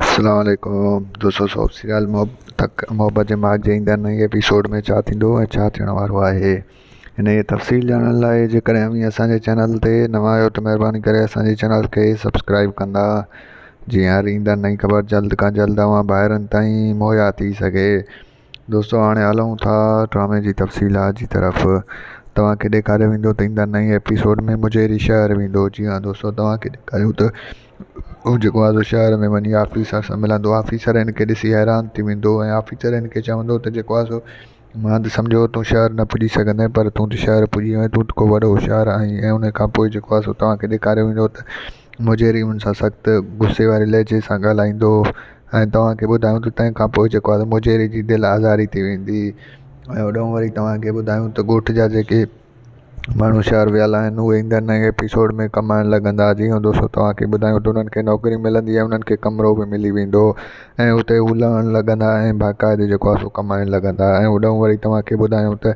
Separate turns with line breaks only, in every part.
اسلام عليڪم دوستو سو سيال محبت محبت جي ماڳ جي ايندڙ نئين ايپيسوڊ ۾ ڇا ٿيندو ۽ ڇا ٿيڻ وارو آهي هن جي تفصيل ڄاڻڻ لاء جيڪڏهن اوهين اسانجي چينل تي نوان آهيو ته مهرباني ڪري اسانجي چينل کي سبسڪرائب ڪندا جيئن هر ايندڙ نئين خبر جلد کان جلد اوهان ڀائرن تائين مهيا ٿي سگهي دوستو هاڻي هلون ٿا ڊرامي جي تفصيلات جي طرف توهان کي ڏيکاريو ويندو ته ايندا نئين ايپيسوڊ ۾ مجيري شهر ويندو جي ها دوستو توهان کي ڏيکاريون ته هو جيڪو آزو شهر ۾ وڃي آفيسر سان ملندو آفيسر هن کي ڏسي حيران ٿي ويندو ۽ آفيسر هن کي چوندو ته جيڪو آزو مان ته سمجهيو هو تون شهر نه پڄي سگهندين پر تون ته شهر پڄي ويو آهين تون ته ڪو وڏو هوشيار آهين ۽ ان کان پوء جيڪو آزو توهان کي ڏيکاريو ويندو ته مجيري ان سان سخت غصي واري لهجي سان ڳالهائيندو هو ۽ توهان کي ٻڌايون ته تنهن کان پوء جيڪو آهي مجيري جي دل آزاري ٿي ويندي ۽ هوڏانهن وري توهان کي ٻڌايون ته ڳوٺ جا جيڪي ماڻهو شهر ويل آهن اهي ايندڙ نئين ايپيسوڊ ۾ ڪمائڻ لڳندا جي هو دوستو توهان کي ٻڌايون ته انهن کي نوڪري ملندي ۽ انهن کي ڪمرو به ملي ويندو ۽ اتي هو لهڻ لڳندا ۽ باقاعدي جيڪو آهي سو ڪمائڻ لڳندا ۽ هوڏانهن وري توهان کي ٻڌايون ته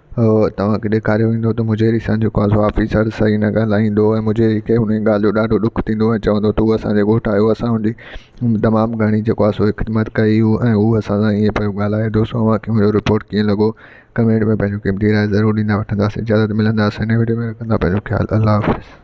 اهو توهان کي ڏيکاريو ويندو ته مجهيري سان جيڪو آسو آفيسر صحيح نه ڳالهائيندو ۽ مجهيري کي انهي ڳالهه جو ڏاڍو ڏک ٿيندو ۽ چوندو ته هو اسان جي ڳوٺ آيو اسان هن جي تمام گهڻي جيڪو آسو خدمت ڪئي هو ۽ هو اسان سان ائين پيو ڳالهائي دوستو اوهان کي منهنجو رپورٽ ڪيئن لڳو ڪمينٽ ۾ پنهنجو قيمتي راء ضرور ڏيندا وٺنداسين جلد ملنداسين نئين وڊيو ۾ رکندا پنهنجو خيال الله حافظ